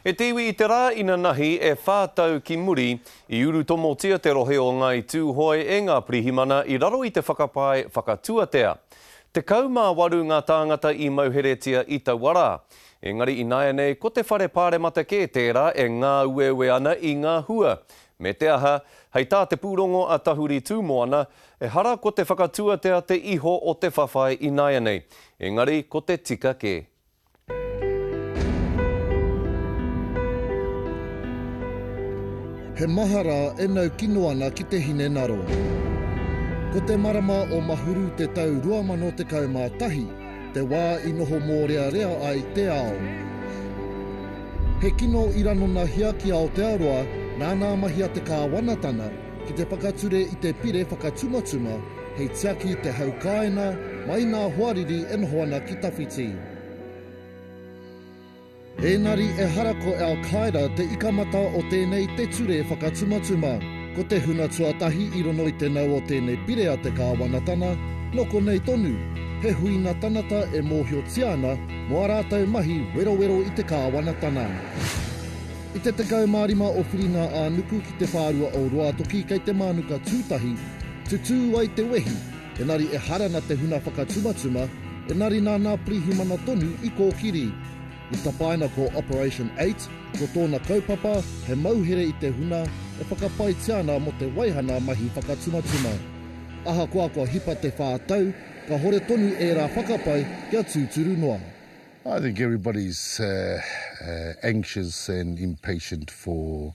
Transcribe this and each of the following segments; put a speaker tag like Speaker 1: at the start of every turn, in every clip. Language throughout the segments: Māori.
Speaker 1: E te iwi i te rā inanahi e whā tau ki muri, i urutomotia te rohe o Ngāi Tūhoe e ngā pirihimana i raro i te whakapae whakatuatea. Tekau mā waru ngā tāngata i mauheretia i taua rā. Engari ināianei ko te whare pāremata kē tērā e ngāueue ana i ngā hua. Me te aha, hei tā te pūrongo a Tahuri Tūmoana, ehara ko te whakatuatea te iho o te whawhai ināianei, engari ko te tika kē.
Speaker 2: He mahara e nau kino ana ki te hinengaro. Ko te marama o Mahuru te tau 2011, te wā i noho mōrearea ai te ao. He kino i ranonahia ki Aotearoa nāna mahia te kāwanatanga ki te whakature i te pire whakatumatuma Hei tiaki te hau kāina mai ngā hoariri e noho ana ki tawhiti. Ēngari ehara ko Al Qaeda te ikamata o tēnei te ture whakatumatuma. Ko te hunga tuatahi i rono i te nau o tēnei pire a te Kāwanatana, nō konei tonu, he huinga tanata e mōhiotia ana mō a rātou mahi werowero i te Kāwanatana. I te 15 o Whiringa-ā-nuku ki te whārua o Ruatoki kei te mānuka tūtahi, Tutū ai te wehi, engari ehara na te huna whakatumatuma, engari nā nā Pirihimana tonu i kōkiri. I tapaina ko Operation Eight, ko tōna kaupapa he mauhere i te huna e whakapaitia ana mō te waihana mahi whakatumatuma. Ahakoa kua hipa te whā tau, kahore tonu ērā whakapae kia tūturu noa. I think
Speaker 3: everybody's anxious and impatient for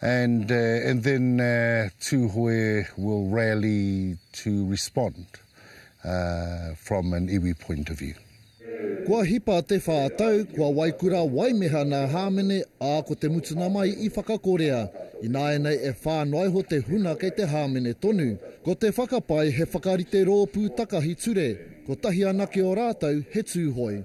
Speaker 3: And and then Tuhoe will rally to respond from an iwi point of view. Kua hipa
Speaker 2: te wha tau, kua waikura waimeha nā Hāmene, ā, ko te mutunga mai i whakakorea. Ināianei e whā noa iho te huna kei te Hāmene tonu. Ko te whakapae he whakarite rōpū takahi ture, kotahi anake o rātou he Tūhoe.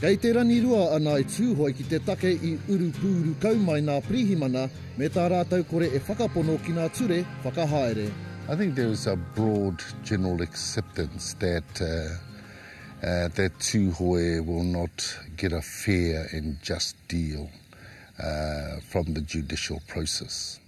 Speaker 3: Kei te rangirua
Speaker 2: a Ngāi Tūhoe ki te take i urupūuru kau mai ngā pirihimana me tā rātou kore e whakapono ki ngā ture whakahaere. I think there is
Speaker 3: a broad general acceptance that that Tūhoe will not get a fair and just deal from the judicial process.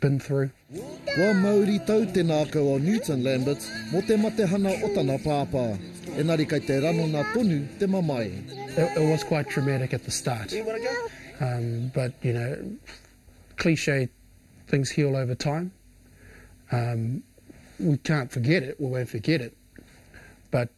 Speaker 4: been through. Kua mauri
Speaker 2: tau te nākau o Newton Lamberts mō te matehana o tana pāpā, engari kei te ranona tonu te mamae. It it was quite
Speaker 4: traumatic at the start um but you know cliche things heal over time um we can't forget it we won't forget it but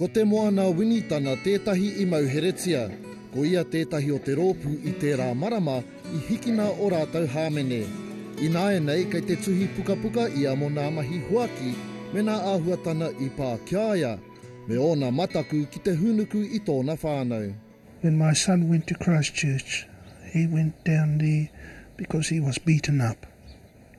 Speaker 4: Ko Te Moana
Speaker 2: Winitana tētahi i mauheretia, ko ia tētahi o te rōpū i tērā marama i hikina o rātou hāmene. Ināianei kei te tuhi pukapuka ia mo nā mahi huaki me nā āhuatana i pā kia ia, me ōna mataku ki te hūnuku i tōna whānau. When my son
Speaker 5: went to Christchurch, he went down there because he was beaten up.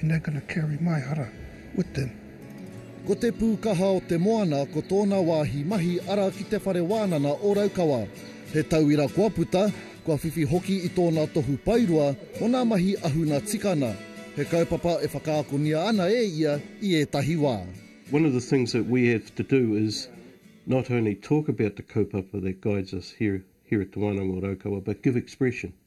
Speaker 5: And they're gonna carry my hara with them. Ko Te
Speaker 2: Pūkaha o te Moana ko tōna wāhi mahi ara ki Te Whare Wānana o Raukawa. He tauira kua puta, kua whiwhi hoki i tōna tohu paerua mō ngā mahi ahuna tikana. He kaupapa e whakaakongia ana e ia i ētahi wā. One of the things that
Speaker 6: we have to do is not only talk about the kaupapa that guides us here here at Te Wānanga o Raukawa but give expression.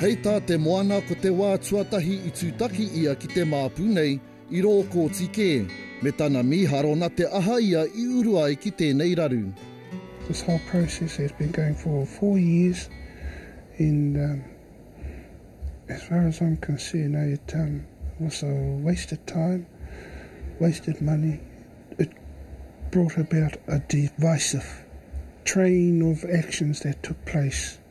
Speaker 6: Hei tā
Speaker 2: Te Moana ko te wā tuatahi i tūtaki ia ki te māpu nei i rō kōti kē, me tana mīharo na te aha ia i uru ai ki tēnei raru. This whole
Speaker 5: process has been going for four years and um as far as I'm concerned it um was a waste of time, wasted money, it brought about a divisive train of actions that took place.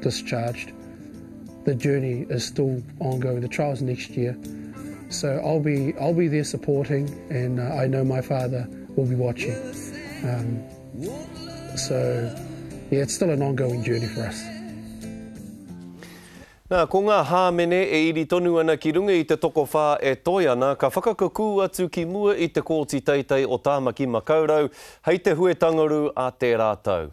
Speaker 4: discharged, the journey is still ongoing, the trial's next year, so I'll be, I'll be there supporting and uh, I know my father will be watching. Um, so, yeah, it's still an ongoing journey for us.
Speaker 1: Nā, ko ngā hāmene e iri tonu ana ki runga i te tokowhā e toe ana, ka whakakukū atu ki mua i te Kōti Teitei o Tāmaki Makaurau hei te huetangaru a tērā tau.